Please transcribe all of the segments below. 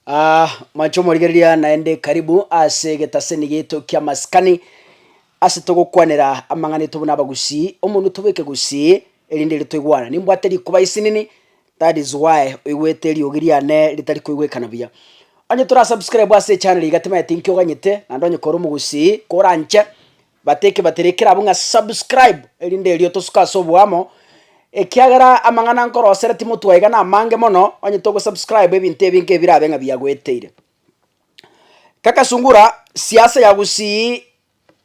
Aa mwancho omorigereria naende karibu ase egetaseni gieto kia maskani ase togokwanera amang'ana aito buna abagusii, omonwe tobeke gusii erinde ere toigwane. Nimbwate rikuba isinini that is why oigwete eriogi riane ritari koigwekana buya. Onye tora subscribe ase echanero iga timanyeti nki oganyete, naende onye kore omogusii koranche. Bateke batire kerabwo ng'a subscribe erinde erio tosuke ase oboamo, ekiagera amang'ana nkorosera timotwa iga namange mono, onye togosubscribe ebinto ebi nkebirabe ng'a biagoeteire. Kaka sungura siasa ya gusii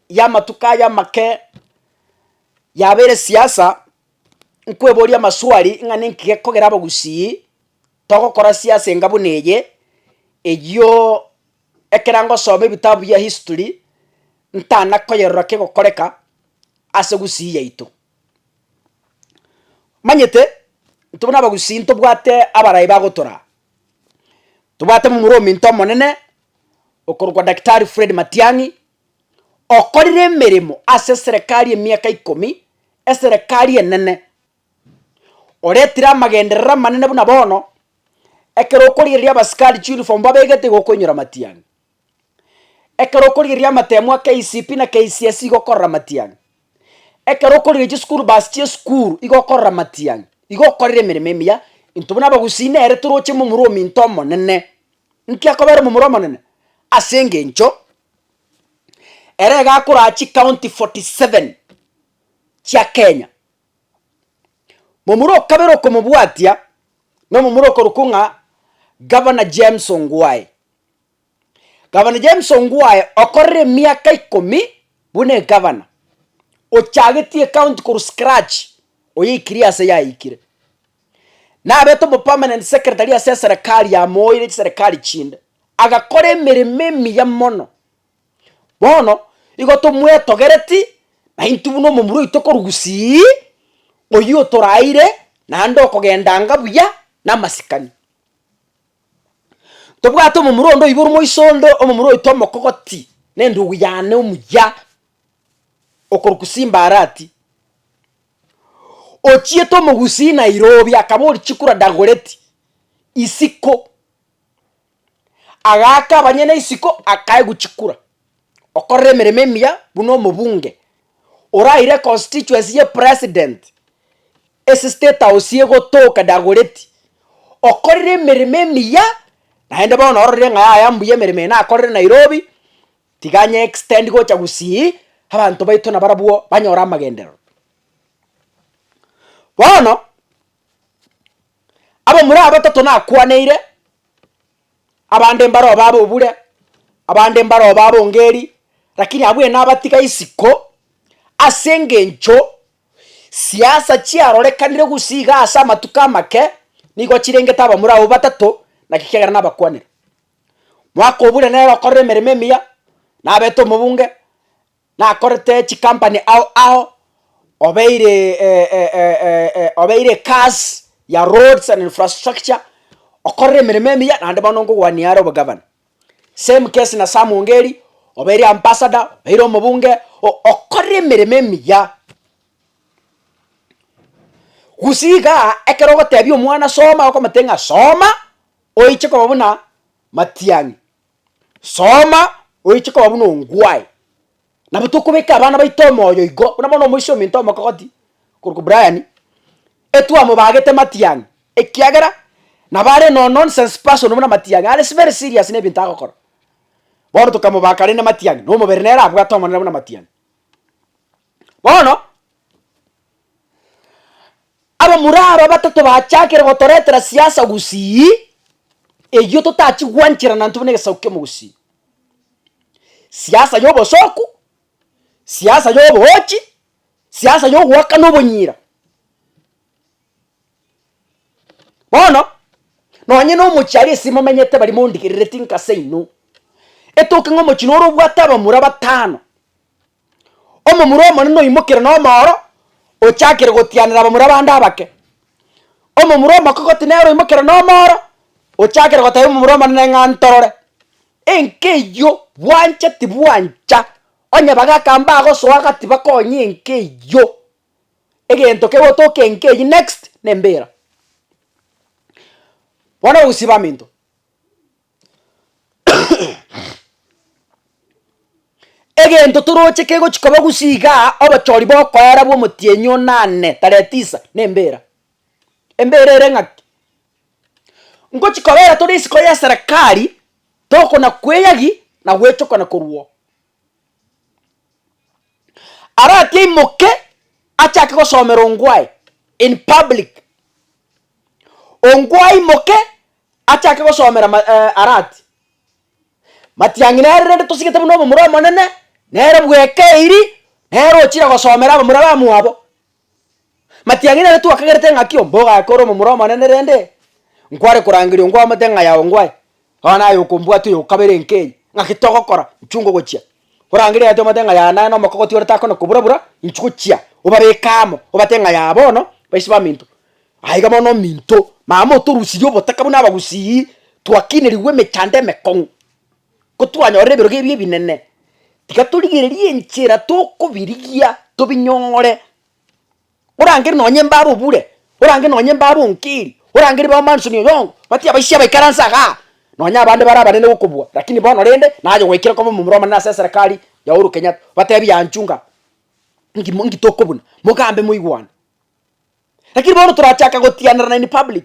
yamatuko aya amake yabeire siasa, nkweboria amaswali ng'a ninki gekogera abagusii togokora siasa enga buna eye, eyio Ekero ngosoma ebitabu bia history, ntana koyerora kegokoreka ase Gusii yaito. Omanyete, intwe buna Abagusii ntobwate abarai bagotoraa. Tobwate momura ominto omonene, okorokwa Daktari Fred Matiang'i, okorire emeremo ase eserekari emiaka ikomi, eserekari enene oretire amagenderero amanene buna bono, ekero okorigereria abasikari chiuniform babegete igo okoinyora matiang'i. Ekero okorigereria amatemu a KCPE na KCSE igo okorora matiang'i, ekero okorigereria chisukuru bus chia esukuru igo okorora matiang'i, igo okorire emeremo emiya intwe buna abagusii nere toroche momura ominto omonene. Nki akobera omomura omonene? Ase engencho ere iga akoraa chikaunti forty seven chia Kenya. Momura o kabere okomobwatia nomomura okorokwa ng'a Governor James Ongwae. Governor James Ongwae okorire emiaka ikomi buna egavana, ochagetie ecounty korwa scratch oyoikirie ase yaikire. Nabete omopermanent secretary ase eserekari yamoeire chiserekari chinde, agakora emeremo emiya mono Bono igo tomwetogereti, naintwe buna omomura oito korwa gusii, oyio otoraeire naende okogendanga buya namasikani. Tobwate omomura onde oiborwa moiso onde omomura oito omokogoti, na endugu yane omuya, okorwa gusii mbarati, ochiete omogusii nairobi akaba ore chikura dagoreti, isiko. agaaka abanyene isiko akaegwa chikura, okorera emeremo emiya buna omobunge oraire constituency ye president ase state house egotoka Dagoretti, okorire emeremo emiya naende bono ororire ng'a yaya mbuya emeremo eye nakorire Nairobi, tiga anye extend gocha Gusii abanto baito nabarabwo banyore amagenderero. Bono. Abamura abatato nakwaneire, abande mbaroo babe obure, abande mbaroo babe ongeri, rakini abwo enabatiga isiko, ase engencho siasa chiarorekanire gusii igaa ase amatuko amake, nigo chirengete abamura abwo batato, naki ekiagera nabakwanire. Mwaka obure nere okorire emeremo emiya, nabete omobunge, nakorete chikampani ao ao, obeire obeire ekasi ya roads and infrastructure, okorire emeremo emiya naende bono nkogwania are obogavana. Same case na Sam Ongeri, obeire ambassador, obeire omobunge, o- okorire emeremo emiya. Gusii igaa, ekero ogotebia omwana soma okomotebia ng'a soma, oiche koba buna Matiang'i. Soma oiche koba buna ongwae, nabo tokobeka abana baito omoyo igo, buna bono omoisia ominto omokogoti korokwa Brian, etwamobagete Matiang'i ekiagera nabo are no nonsense person buna Matiang'i, are very serious na ebinto agokora. Bono tokamobaka rende Matiang'i, na omobere nere abwate omonene buna Matiang'i. Bono, abamura aba batato bachakire gotoretera siasa gusii, eyio totachi gwancherana intwe buna egesaku ki'omogusii. Siasa y'obosoku, siasa y'oboochi, siasa y'ogoakana obonyira. Bono, nonye na omochiari ase momenyete baria mondigerereti inka ase inwe, etoke ng'a omochie noro obwate abamura batano, Omomura omonene oimokire nomooro, ochakire gotianera abamura bande abake. Omomura omokogoti nere oimokire nomooro, ochakire gotebia omomura omonene ng'a ntorore. Enka eyio bwancheti bwancha, onye bagaka mbagosoa gati bakonye enka eyio, egento kegotoka enka eyio next, nembira. Bono ogosibamento. Egento toroche kegochi koba gusii igaa, obochori bokoera bw'omotienyi o nane tarehe tisa, nembera. Embera ere ng'aki? Ngochi kobera tore isiko ya serekari, tokona kweyagi na gwechokana korwa oo. Arati aimoke achake gosomera ongwae in public, ongwae aimoke Achake gosomera ma, eh, arati, Matiang'i nere rende tosigete buna omomura omonene, nere bwekeiri, nere ochire gosomera abamura bamwabo. Matiang'i nere twakagerete ng'aki oo, mbogo aye kore omomura omonene rende, nkware korangeria ongwaomete ng'a yago ngwae, bono naye okombwate oyo okabere enka eye, ng'aki togokora? Nchungo gochia. Orangerie ati omanyete ng'a yaye naye nomokogoti ore takona kobura-bura, inchuo chia, obabeke amo, obate ng'a yaye bono baise baminto. Aiga bono ominto, mama otorusirie obotaka buna Abagusii, twakinerigwe emechando emekong'u, kotwanyorire ebirogo ebi ebinene, tiga torigererie enchera tokobirigia, tobinyong'ore. Orangere nonye mbabe obure, orangere nonye mbabe onkeri, orangere mbabe Manson Oyongo, bati abaisia baikaranse igaa, nonye abande bare abanene gokobua, rakini bono rende naye goikire koba omomura omonene ase eserekari ya Uhuru Kenyatta, obatebi anchunga nki nki tokobuna, mogambe moigwane. Rakini bono torachake gotianerana in public.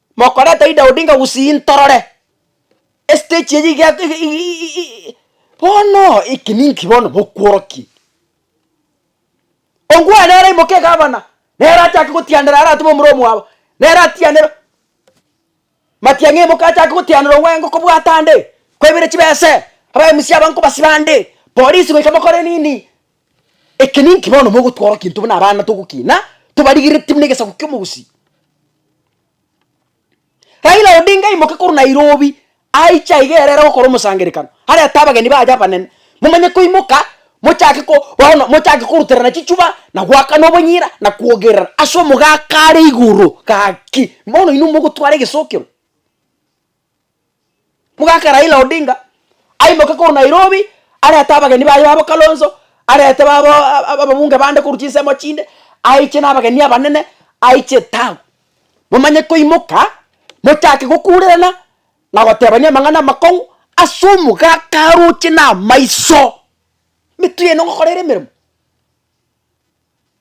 Mokoreta Ida Odinga gusii ntorore estage eye iga iga iga bono eki ninki bono bokworokia? Ongwae nere aimoke egavana, nere achake gotianera aratome omura omwabo, nere atianere, Matiang'i aimoke achake gotianera Ongwae ngokobwata ande, kwaibire chibese, aba MC aba nkobasiba ande, polisi goika mokore nini? Eke ninki bono mogotworokia intwe buna abana togokina tobarigeretie buna egesaku ki'omogusii? Raila Odinga aimoke korwa Nairobi aiche aiga ere ere gokora omosangerekano arete abageni baye abanene momanye koimoka mochake ko bono mochake koruterana chichuba na goakana obonyira na kwogerera ase omogaka are igoro. Gaki bono inwe mogotwara egesokero. Mogaka Raila Odinga aimoke korwa Nairobi arete abageni baye babo Kalonzo, arete babo ababunge bande korwa chinsemo chinde, aiche na abageni abanene aiche town. Momanye koimoka mochake gokurerana na gotebania amang'ana amakong'u ase omogaka aroche na amaiso. Emetwe yaino ngokora ere emeremo.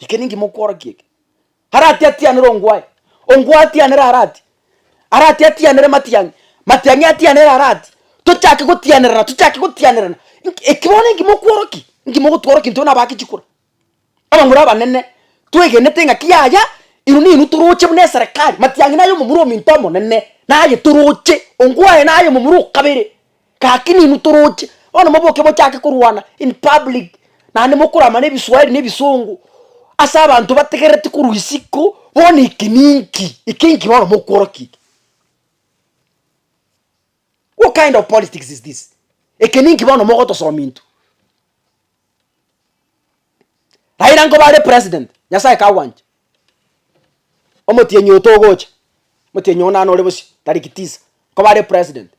Eke ninki mokworokia eke? Arati atianere ongwae. Ongwae atianere arati. Arati atianere matiang'i. Matiang'i atianere arati. Tochake gotianerana, tochake gotianerana. Nki- Eki bono ninki mokworokia? Ninki mogotworokia intwe nabake chikura? Abamura abanene, twegenete ng'aki yaya, inwe ninwe toroche buna eserekari. Matiang'i naye omomura ominto omonene, naye toroche. Ongwae naye omomura o kabere. Gaki nainwe toroche, bono moboke mochake korwana in public, naende mokoramane ebiswahili na ebisongo, ase abanto bategereti korwa isiko, bono eke ninki? eke inki bono mokworokia eke? what kind of politics is this? eke ninki bono mogotosomia intwe? Raila nkoba are president, nyasaye kagwancha, omotienyi oyo togocha, omotienyi oyo naro ore bosio, tariki tisa, nkoba are president.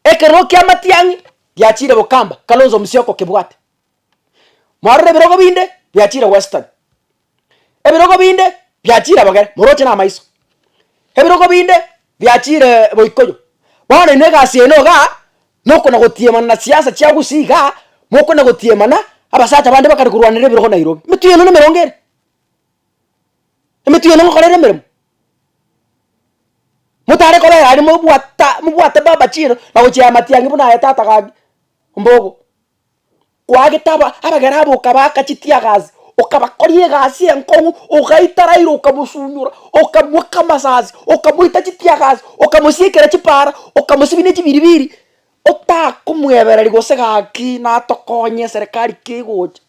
Ekerogo kia Matiang'i giachiire Bukamba, Kalonzo Musyoka okebwate. Mwarora ebirogo binde biachiire Western, ebirogo binde biachiire abagere, moroche na amaiso, ebirogo binde biachiire Boikoyo. Bono inwe egasi yaino igaa, nokona gotiemana na siasa chia Gusii igaa, mokona gotiemana abasacha bande bakare korwanera ebirogo Nairobi. Emetwe yaino nemerongo ere? Emetwe yaino ngokorere emeremo? Motare kobera aria mobwata mobwate baba chiro na gochia amatiangi buna aye tata gaki mbogo. Kwagete aba abagera abo okabaka chitiagasi, okabakoria egasi enkong'u, ogaita Raila okamosunyora, okamoaka amasasi, okamoita chitiagasi, okamosiekera chipara, okamosibinia chibiribiri, otakomwebereri gose gaki natokonye eserekari kegocha.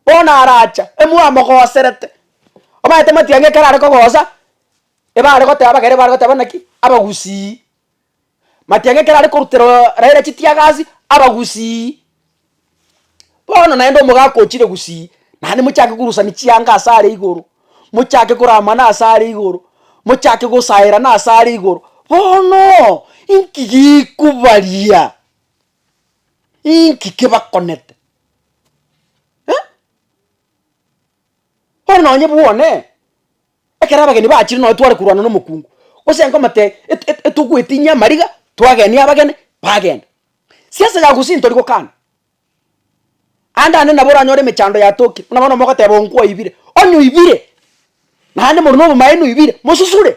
bono aracha emwamogoserete, omanyete matiang'i ekero are kogosa, ebare goteba abagaire bare goteba naki, abagusii. Matiang'i ekero are korutera Raila chitiagasi, abagusii. Bono naende omogaka ochire gusii, naende mochake korusani chianga ase are igoro, mochake koramana ase are igoro, mochake gosaerana ase are igoro, bono inki gikubaria? Inki kebakonete? Eh? Bono nonye bwone, ekero abageni bachire nonye tware korwana na omokungu, gose nkomotebia et- et- etogoetinyie amariga, twagenie abageni, bagenda. Siasa ya Gusii ntori gokana, aande ande nabo oranyore emechando yatoki, buna bono mogoteba oo nkwaibire, onye oibire, naende more na obomaene oibire, mosusure.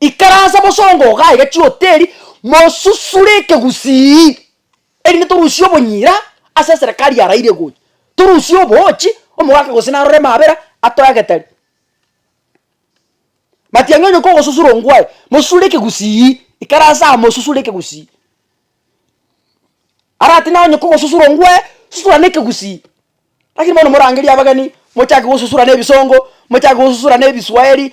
Ikaransa bosongo ogaiga chihoteli mosusure ekegusii erinde torusie obonyira ase eserekari yaraire gocha. Torusie oboochi, omogaka gose narore emabera atoe agetari. Matiang'i onye kogosusura ongwae, mosusure ekegusii, ikaransa aa mosusure ekegusii. Arati naye onye kogosusura ongwae, susura na ekegusii. Lakini bono morangerie abageni, mochake gosusura na ebisongo, mochake gosusura na ebiswaheri.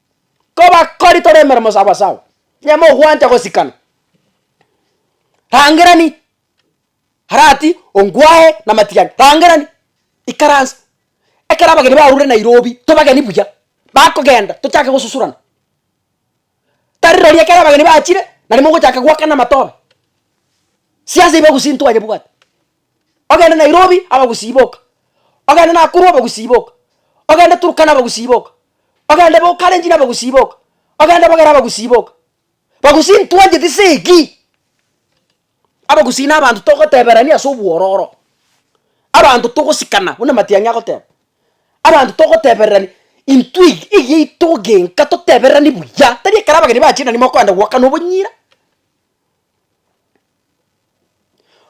kobakori tore emeremo sawasawa, onye mogwancha gosikana, rangerani arati ongwae na matigari, rangerani, ikaransa, ekero abageni barure Nairobi, tobageni buya, bakogenda tochake gosusurana, tari rori ekero abageni bachire, nari mogochaka goakana amatobe, siasa ibe gusii ntwanyebwate. ogende Nairobi abagusii boka, ogende Nakuru abagusii boka, ogende Turkana abagusii boka, ogende bo Kalenjin abagusii boka, ogende Bogera abagusii boka. Bagusii ntwancheti segi, abagusii na abanto togoteberania ase obwororo, abanto togosikana buna matiang'i agoteba, abanto togotebererani intwe eg- egiya yaito egenka totebererani buya, tari ekero abageni bachire nari mokoenda goakana obonyira.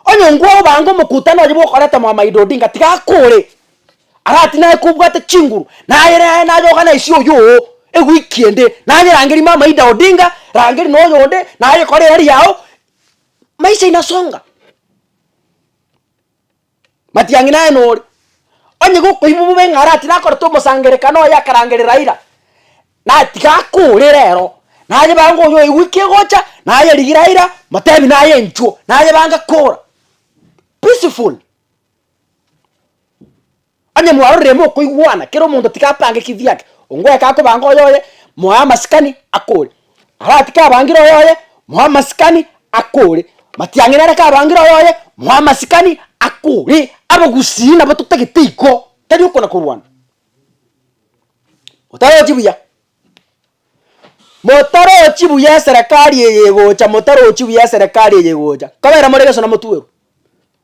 Onye ngwao bange omokutano oye bwokoreta Mohamaido Odinga tiga akore arati naye kobwate chinguru nayere aye naye ogane aise oyoo ewiki ende naye rangeri mama Ida Odinga rangeri na oyo onde naye kore erari yao maisha inasonga. Matiang'i naye nore. Onye gokoiba bobe ng'a aratire akorete omosangerekano oye akarangere Raila, naye tiga akore rero, naye bange oyo oigwe kegocha, naye rigia Raila motebi naye enchuo, naye bange kora. Peaceful. Onye mwarorire mokoigwana, kera omonto tigapange ekitu giake, ongoeka akobange oyoye, moe amasikani akore. Aratike abangire oyoye, moe amasikani akore. Matiang'ina areke abangire oyoye, moe amasikani akore. Abogusii nabo totagete igo, tari okona korwana. Motarochi buya, motarochi buya eserekari eye egocha, motarochi buya eserekari eye egocha, nkabera more egeso namotuerwa.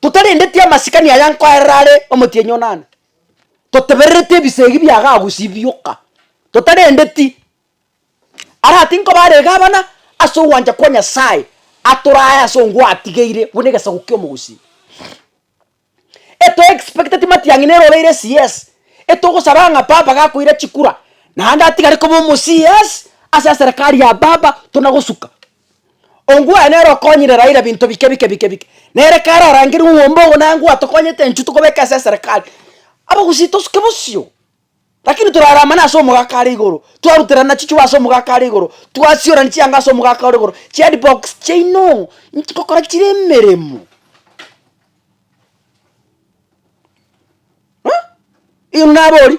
Totarendeti amasikani aya nkoerera are omotienyi onana, toteberereti ebisegi biagagusibioka, totarendeti ara tinkoba are egabana ase ogwancha kwa Nyasaye atorae ase ongwo atigeire buna egesaku ki'omogusii. Eto expecteti matiang'i nere oreire CS, etogosaba ng'a Baba gakoira chikura, naende atigare koba omo CS ase eserekari ya Baba tonagosuka. Ongwae nere okonyire Raila binto bike bike bike bike. Nere kare arangire omwombe ogo naye ngwae tokonyete enchwe tokobeka ase eserekari. Abagusii tosuke bosio. Rakini torara amane ase omogaka are igoro. Twaruterana chichuo ase omogaka are igoro. Twasiorani chianga ase omogaka ore igoro. Chihead box chiaino inche ngokora chire emeremo. Huh? Igo naborie.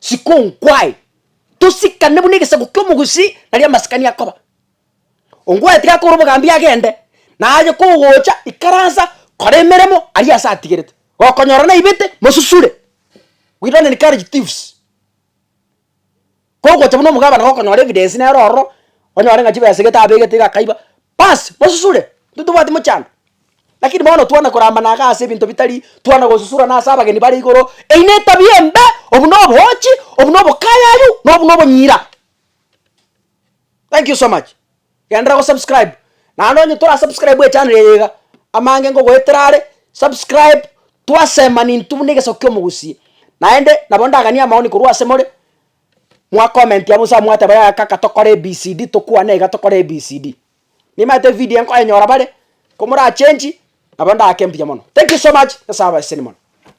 Siko nkwaye tosikane buna egesaku ki'omogusii nari amasikani akoba. Ongwaete gakore obogambi agende, na aye kogocha ikaransa kora emeremo aria ase atigerete. Gokonyora naibete mosusure. We don't encourage thieves. Kogocha buna omogabana gokonyora evidence nero ororo, onyore ng'a chibesa egete abegete iga akaiba, Bas, mosusure, intwe tobwati mochando. Lakini bono twana korambana iga ase ebinto bitari, twana gosusurana ase abageni bare igoro, eyi netabia embe, obu noboochi, obu nobokayayu, na obu nobonyira. Thank you so much, genderera go subscribe, naende onye tora subscribe echanero eye iga, amange ngogoetera are, subscribe, twasema nintwe buna egesaku kia omogusi, naende nabo ndaganie amaoni korwa ase more. Mwa commentia bosa mwateba yaya kaka tokore ABCD tokwane iga tokore ABCD. Nimanyete evideo enkoenyora bare, komora change nabo ndaake mbuya mono. Thank you so much, Nyasae abae sene mono.